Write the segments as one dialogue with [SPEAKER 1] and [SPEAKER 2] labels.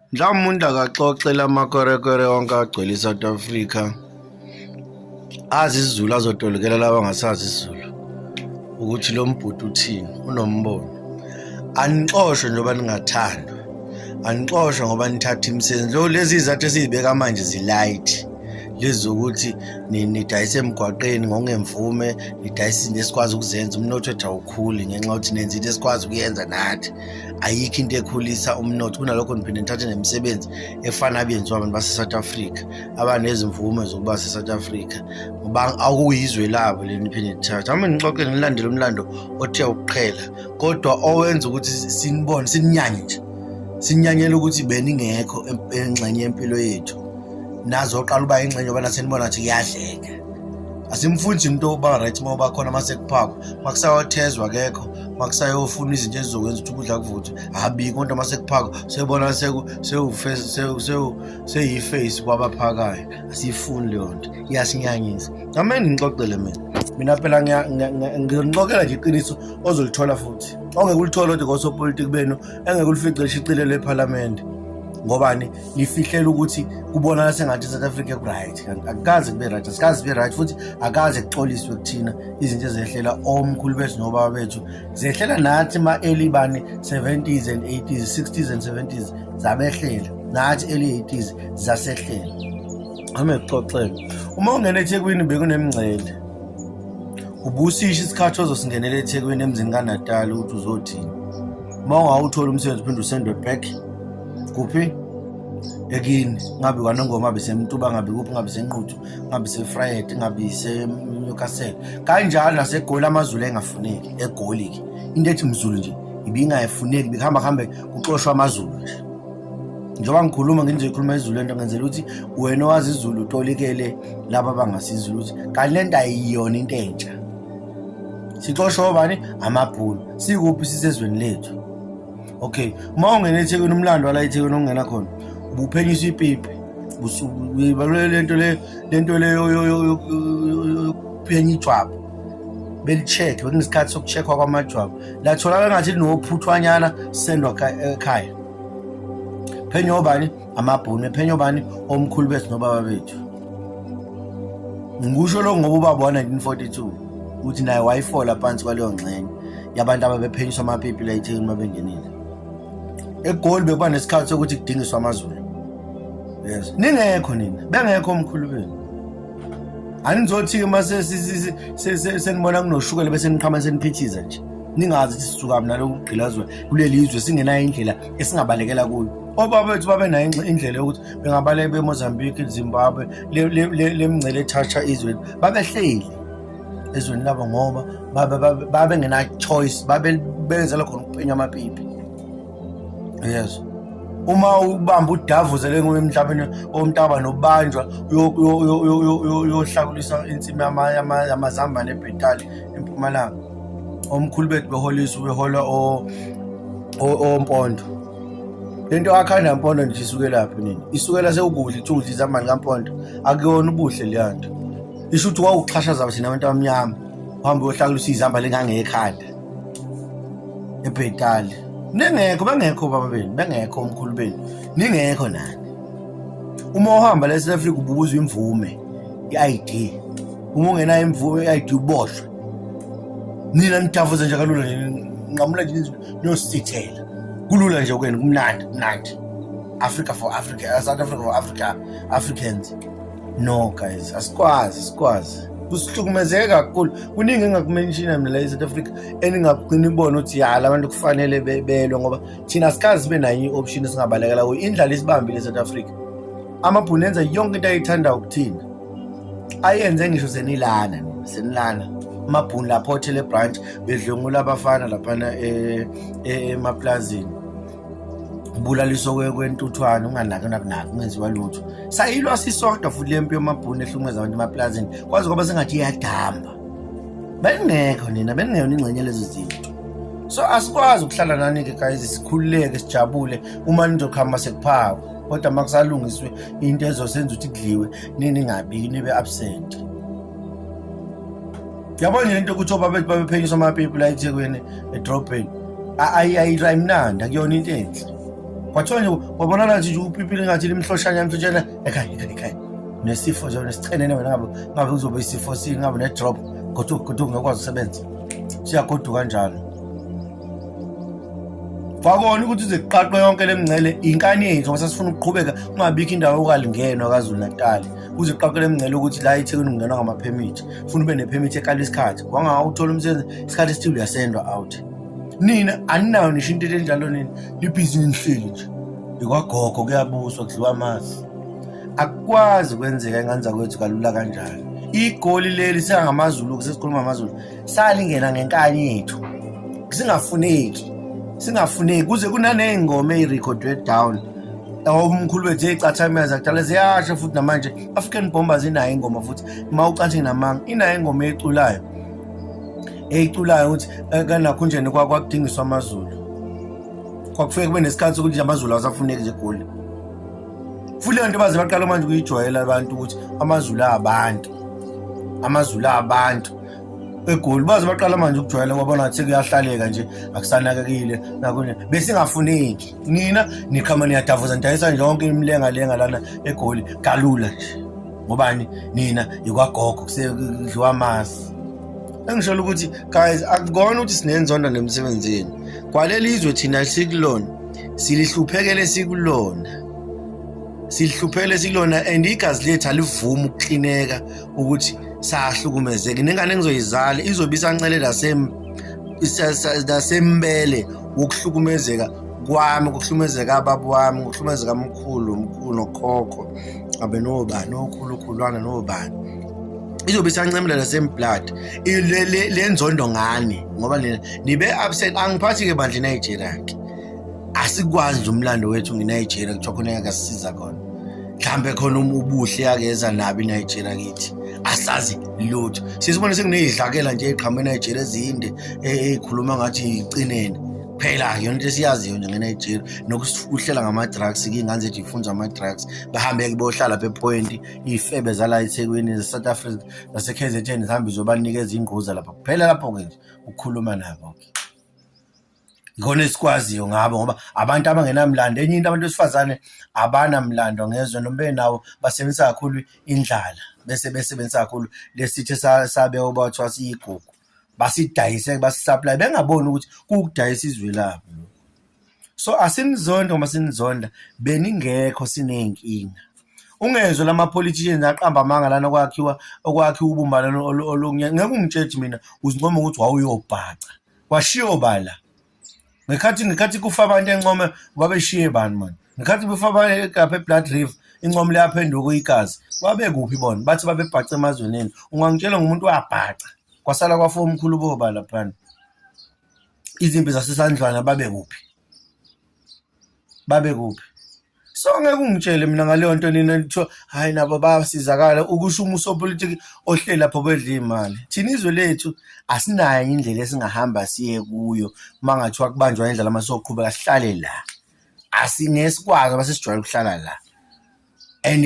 [SPEAKER 1] Mhlawumbe umuntu akaxoxe la makorekore onke agcwele i-South Africa azi isiZulu azotolokela laba angasazi isiZulu ukuthi lo mbhuti uthini unombono anixoshwe njengoba ningathandwa anixoshwe ngoba nithatha imisebenzi lo lezi izathu esiyibeka manje zilight lezi zokuthi nidayise emgwaqeni ngokungemvume nidayise izinto esikwazi ukuzenza umnotho wethu awukhuli ngenxa yokuthi nenza into esikwazi ukuyenza nathi ayikho into ekhulisa umnotho kunalokho ngiphinde ngithathe nemisebenzi efana abenziwa abantu base-south africa abanezimvume zokuba se-south africa ngoba akuyizwe labo le niphinde nithathe hamba nixoxe nilandele umlando othe ukuqhela kodwa owenza ukuthi sinibone sininyanye nje sinyanyela ukuthi beningekho engxenye yempilo yethu nazoqala uba ingxenye yoba nasenibona ukuthi kuyadleka asimfundi umuntu oba right uma uba khona uma sekuphakwa uma kusawathezwa kekho makusayofuna izinto ezizokwenza ukuthi ukudla kuvuthwe habi kodwa uma sekuphakwa sebona seyiface kwabaphakayo asiyifuni leyo nto iyasinyanyisa ngamele ngixoxele mina mina phela ngiyonixokela nje iqiniso ozolithola futhi ongeke ulithole kodwa kosopolitiki benu engeke ulifice lishicilelwe ephalamende ngobani lifihlela ukuthi kubonakala sengathi i-south africa kuright akukaze kube right asikaze sibe right futhi akaze kuxoliswe kuthina izinto ezehlela omkhulu bethu nobaba bethu zehlela nathi ma-early bani 70s and 80s 60s and 70s zabehlela nathi early 80s zasehlela ame kuxoxela uma ungena ethekwini bekunemngcele ubusisha isikhathi ozosingenela ethekwini emzini kanatali ukuthi uzothini uma ungawutholi umsebenzi uphinde usendwe back kuphi ekini ngabe kwanongoma ngabe semtuba ngabe kuphi ngabe senquthu ngabe sefried ngabe senewcastle kanjalo nasegoli amazulu engafuneki egoli-ke into ethi mzulu nje ibingayifuneki bekuhamba kuhambe kuxoshwa amazulu nje njengoba ngikhuluma ngenze ikhuluma izulu lento ngenzela ukuthi wena owazi izulu utolikele laba abangasizulu ukuthi kanti le nto ayiyona into entsha sixoshwa obani amabhulu sikuphi sisezweni lethu okay uma ungena ethekwini umlando wala ethekwini ongena khona ubuphenyisa ipipi uyibalule lento le lento le yokuphenya ijwabu belicheck bekunesikhathi sokucheckwa kwamajwabu latholakala ngathi linophuthwanyana sendwa ekhaya phenyo obani amabhunu ephenyo bani omkhulu bethu nobaba bethu ngikusho lokho ngoba ubaba wa-1942 uthi naye wayifola phansi kwaleyo ngxenye yabantu ababephenyiswa amapipi layithekini uma bengenile egoli bekuba nesikhathi sokuthi kudingiswa amazulu yes ningekho nina bengekho omkhulu benu anizothi-ke uma senibona kunoshukela bese niqhama seniphithiza nje ningazi ukuthi sisukaphi nalokhu kugqilazwa kuleli zwe singenayo indlela esingabalekela kuyo obaba bethu babenayo indlela yokuthi bengabaleka bemozambique zimbabwe le mngcele ethatha izweni babehleli ezweni labo ngoba babengenachoice babebenzela khona ukuphenya amapipi yes uma ubamba udavuzele nguye emhlabeni omntaba nobanjwa uyohlakulisa insimi yamazambane ebhetali empumalanga omkhulu bethu beholisa ubehola ompondo lento akhanda yampondo nje isukelaphi nini isukela sewukudla ithudla izamani kampondo akuyona ubuhle leya nto isho ukuthi wawuxhashaza thina abantu abamnyama uhambe uyohlakula usiyizamba lengangekhanda ebhetali ningekho bengekho baba benu bengekho omkhulu benu ningekho nani uma uhamba la eSouth Africa ububuza imvume i-ID uma ungenayo imvume i-ID uboshwe nina nitafuza nje kalula nje nqamula nje niyosithela kulula nje kwenu kumnandi kumnandi africa for africa uh, south africa for africa africans no guys asikwazi asikwazi kusihlukumezeke kakhulu kuningi engakumenshina mina la e-south africa eningagcina ibona ukuthi ya la bantu kufanele belwe ngoba thina sikazi sibe nayo i-option esingabalekela kuyo indlala isibambile e-south africa amabhunenza yonke into ayithandayo kuthina ayenze ngisho senilana senilana amabhuni lapho othele branch bedlwengula abafana laphana eh, eh, emaplazini ubulaliso kwentuthwane unganaki nakunaki ungenziwa lutho sayilwa sisodwa futhi le mpi yomabhuni ehlumeza abantu emaplazini kwazi kwaba sengathi iyadamba beningekho nina beningeyona ingxenye lezo zinto so asikwazi ukuhlala nani-ke guys sikhululeke sijabule uma nizokuhamba sekuphakwa kodwa uma kusalungiswe into ezosenza ukuthi kudliwe niningabiki nibe absent yabona nje into ukuthi obabethu babephenyiswa amapipi la ethekwini edrobheni ayimnandi akuyona into enhle kwathiwa nje wabona nathi nje upipi lingathi limhloshana mfitshana ekhaya ekhaya ekhaya nesifo nje nesichenene wena ngabe ngabe kuzobe isifo singabe ne-drop kodwa kodwa ungekwazi usebenza siyagoduka kanjalo kwakona ukuthi uze kuqaqwe yonke le mngcele inkani yethu ngoba sasifuna ukuqhubeka kungabikho indawo yokalingenwa kwazulu natali kuze kuqaqwe le mngcele ukuthi la ethekwini kungenwa ngamaphemithi funa ube nephemithi ekala isikhathi wangawuthola umsebenzi isikhathi esithile uyasendwa out nina aninayo nisho into enjalo nini libhizi nihleli nje ikwagogo kuyabuswa kudliwa amazi akukwazi kwenzeka ingane zakwethu kalula kanjalo igoli leli sengamaZulu sesikhuluma amaZulu salingena ngenkani yethu singafuneki singafuneki kuze kunaney'ngoma ey'rekhodwe down omkhulu wethu eyicathameza kudala ziyasho futhi namanje african bombers inayo ingoma futhi uma ucathi namanga inayo ingoma eyiculayo eyiculayo ukuthi eh, kanakhunjeni kwakudingiswa amazulu kwakufike kube nesikhathi sokuthi amazulu awasafuneki nje egoli futhi leyo nto baze baqala manje ukuyijwayela abantu ukuthi amazulu abantu amazulu abantu egoli baze baqala manje ukujwayela ngoba ngathi kuyahlaleka nje akusanakekile nakunye besingafuneki nina nikhama niyadavuza nidayisa nje yonke imilenga lenga lana egoli kalula nje ngobani nina yikwagogo kusedliwa amasi engisholo ukuthi guys akukona ukuthi sinenzondo nemsebenzini kwaleli izwe thina sikulona silihluphekele sikulona silihluphele sikulona and igazi lethu alivumi ukuxineka ukuthi sahlukumezeke nengane engizoyizala izobe isancele nasembele wokuhlukumezeka kwami kuhlukumezeka ababa wami kuhlukumezeka mkhulu mkhulu nokhokho abe nobani okhulukhulwana nobani izobe isancemela nasemblood le nzondo ngani ngoba nina nibe absent angiphathi-ke bandla inigeria-ke asikwazi umlando wethu nginigeria kuthiwa khona engakasisiza khona mhlambe khona uma ubuhle akeza nabi Nigeria kithi asazi lutho sisibone sekunezidlakela nje eqhamuka eNigeria ezinde ekhuluma ngathi icinene phela yona into esiyaziyo nje ngeNigeria nokuhlela ngama-drugs kingane zethu ifunza ama-drugs bahambe kubohlala phepoint iy'febe zala ethekwini ze-south africa zase-k z n zihambe zobanikeza ingquza lapha kuphela lapho-ke nje ukukhuluma nabo-ke ngona esikwaziyo ngabo ngoba abantu abangenamlando enye into abantu besifazane abanamlando ngezwe noma benawo basebenzisa kakhulu indlala bese besebenzisa kakhulu lesithe sabe obathiwa siyigugu basidayise basisupply bengaboni ukuthi kukudayisa izwe labo so asinizonda uma sinizonda beningekho sineyinkinga ungezwe lama politicians aqamba amanga lana okwakhiwa okwakhiwa ubumbano olunye ngeke ungitshethi mina uzincoma ukuthi wawuyobhaca washiya obala ngekhathi ngekhathi kufa abantu encome babeshiye bani mani ngekhathi befa abantu egapha eblood river incomo liyaphenduka uyikazi babekuphi bona bathi babebhaca emazweneni ungangitshela ngumuntu wabhaca kwasala kwafa omkhulu bobala phana izimpi zasesandlwana babekuphi babekuphi so ngeke ungitshele mina ngaleyo nto nina kuthiwa hhayi nabo bayasizakala ukusho uma usopolitiki ohleli lapho bedla iy'mali thina izwe lethu asinayo enye indlela esingahamba siye kuyo uma ngathiwa kubanjwa indlela uma soqhubeka sihlale la asingesikwazi uma sesijwayele ukuhlala la and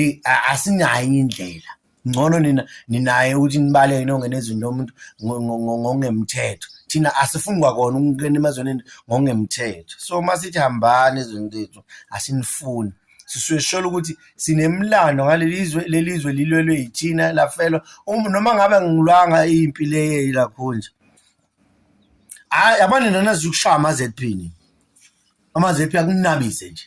[SPEAKER 1] asinayo enye indlela ngcono nina ninaye ukuthi nibaleke nongena ezweni lomuntu ngokungemthetho thina asifuni kwakona ukungena emazweni ngokungemthetho so uma sithi hambani ezweni lethu asinifuni sisuke sisholo ukuthi sinemlando ngaleli zwe leli zwe lilwelwe yithina lafelwa um-, noma ngabe ngilwanga impi le yelakhonje hayi yabona nina naziyokushaya ama-zp ni ama-zp akunabise nje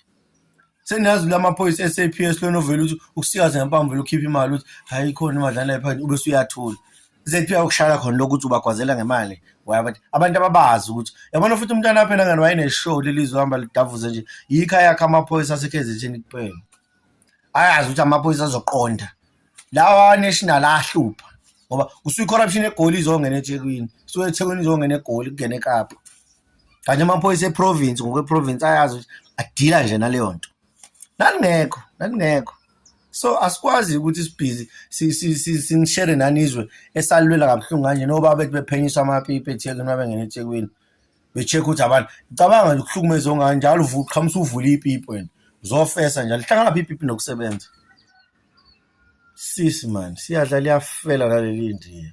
[SPEAKER 1] seniyazile amaphoyisa e-saps lona ovele ukuthi ukusikaze ngempamvu vele ukhiphe imali ukuthi hhayi ikhona imali lana phakathi ube suyathula zephi ukushala khona lokhu ukuthi ubagwazela ngemali wayabantu abantu ababazi ukuthi yabona futhi umntwana aphela ngani wayeneshow lelizwe hamba lidavuze nje yikho ayakho amaphoyisa asekhezetheni kuphela ayazi ukuthi amaphoyisa azoqonda lawa national ahlupha ngoba kusuyi corruption egoli izongena eThekwini so eThekwini izongena egoli kungena eKapa kanti amaphoyisa eprovince ngokweprovince ayazi ukuthi adila nje naleyo nto nalingekho nalingekho so asikwazi ukuthi sibhizi sinishere nanizwe esalilwela kabuhlungu kanje noba bethi bephenyiswa amapipi ethekwini uma bengena ethekwini be-check ukuthi abantu cabanga nje ukuhlukumeza ongani njalo qhamusa uvule ipipi wena uzofesa njalo lihlangana phi ipipi nokusebenza Sisi man, siyadla liyafela naleli ndiya.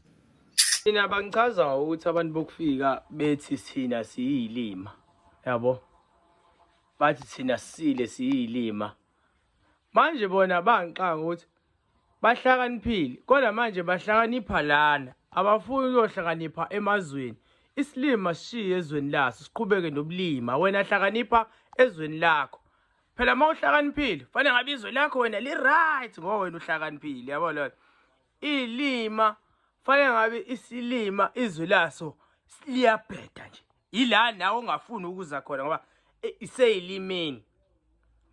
[SPEAKER 1] Thina
[SPEAKER 2] bangichaza ukuthi abantu bokufika bethi sina siyilima. Yabo? Bathi sina sile siyilima. Manje bona bangixanga ukuthi bahlakaniphile kodwa manje bahlakanipha lana abafuni ukuyohlakanipha emazweni isilima sishiye ezweni laso siqhubeke nobulima wena hlakanipha ezweni lakho phela uma uhlakaniphile fanele ngabe izwe lakho wena li-right ngoba wena uhlakaniphile yabo lona iy'lima fanele ngabe isilima izwe laso liyabheda nje yila nawe ongafuni ukuza khona ngoba e, iseyilimini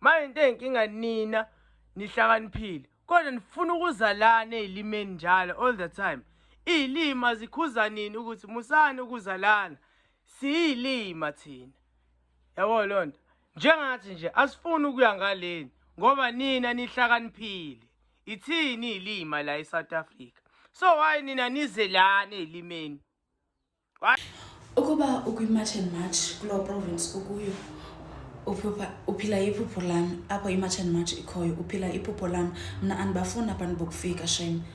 [SPEAKER 2] manje into eyinkinga nina nihlakaniphile kodwa nifuna ukuza lana eyilimeni njalo all the time iyilima zikhuza nini ukuthi musani ukuza lana siyilima thina yabo lonto njengathi nje asifuni ukuya ngaleni ngoba nina nihlakaniphile ithini ilima la eSouth Africa so why nina nize lana elimeni ukuba
[SPEAKER 3] ukwi-march and march kulo province ukuyo uphila iphupho lami apho i-march and march ikhoyo uphila iphupho lami mna andibafuni abantu bokufika shame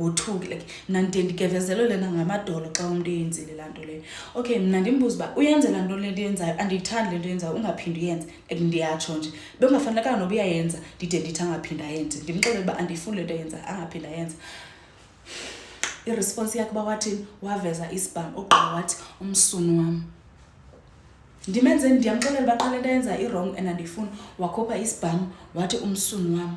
[SPEAKER 3] ngothungi like mna ndiye ndigevezelwe lena ngamadolo xa umntu eyenzile laa nto leyo okay mna ndimbuza uba uyenze laa nto lento yenzayo andiyithandi le nto yenzayo ungaphindi uyenze like ndiyatsho nje bekungafanelekanga noba uyayenza ndide ndithi angaphindi ayenze ndimxelele uba andiyifuni le nto yenza angaphindi ayenza iresponsi yakhe uba wathini waveza isibham ogqiba wathi umsunu wam ndimenze ndiyamxelela uba qha le nto ayenza iwrong and andiyifuni wakhupha isibham wathi umsunu wam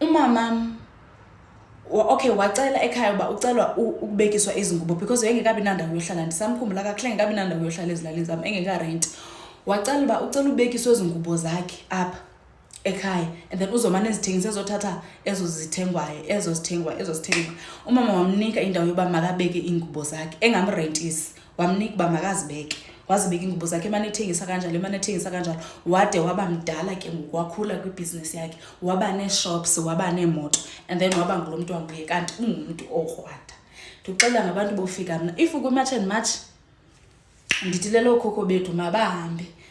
[SPEAKER 3] umamam okay wacela ekhaya uba ucelwa ukubekiswa izingubo because engekabi nandawo yohlala ndisamkhumbula kakuhle engekabi nandawo yohlala ezilalini zam engekarenti wacela uba ucela ubekiswa izingubo zakhe apha ekhaya and then uzomane ezithengisa ezothatha ezo zithengwayo ezo zithengwa ezo zithengwa umama wamnika indawo yoba makabeke iingubo zakhe engamrentisi wamnika uba makazibeke wazibeka ingubo zakhe emane ethengisa kanjalo emane ethengisa kanjalo wade waba mdala ke ngoku wakhula kwibhizinesi yakhe waba nee-shops waba neemoto and then waba ngulo mntu wanguye kanti ungumntu okrwada ndikuxelela ngabantu bofika mna if kwimatch and match ndithi lelokhokho bethu mabahambe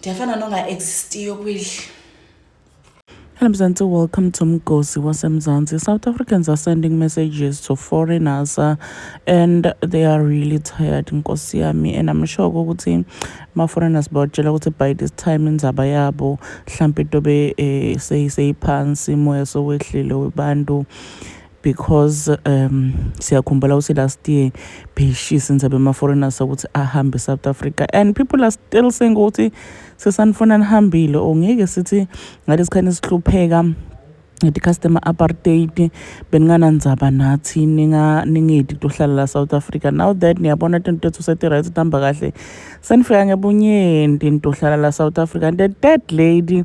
[SPEAKER 3] ndiyafana
[SPEAKER 4] nonga-existiyo kwidli Hello Mzansi, welcome to Mgosi waseMzansi. South Africans are sending messages to foreigners uh, and they are really tired nkosi yami and I'm sure ukuthi ma foreigners bawatshela ukuthi by this time inzaba yabo mhlampe tobe eh, seyiphansi moya sowehlile webantu because um siyakhumbula ukuthi last year beyishisa inzabe ama-foreigners ukuthi ahambe e-south africa and people are still saying ukuthi sesanifuna nihambile or ngeke sithi ngalesi khani sihlupheka nge-customer apartheid beninganandzaba nathi ningedi tohlala la south africa now that niyabona tinto tethu seti-right tihamba kahle senifika ngebunyenti nitohlala la south africa and the third lady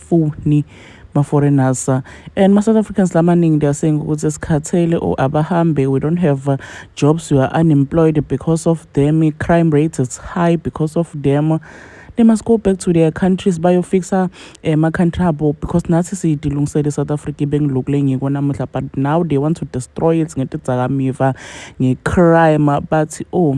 [SPEAKER 4] abafuni ma foreigners and ma South Africans lamaningi they are saying ukuthi esikhathele or abahambe we don't have uh, jobs we are unemployed because of them crime rates is high because of them they must go back to their countries bayofixa eh, ama-country abo because nathi siyidilungisele i-south africa ibengilokule ngiko namuhla but now they want to destroy it ngetidzakamiva ngecrime bathi oh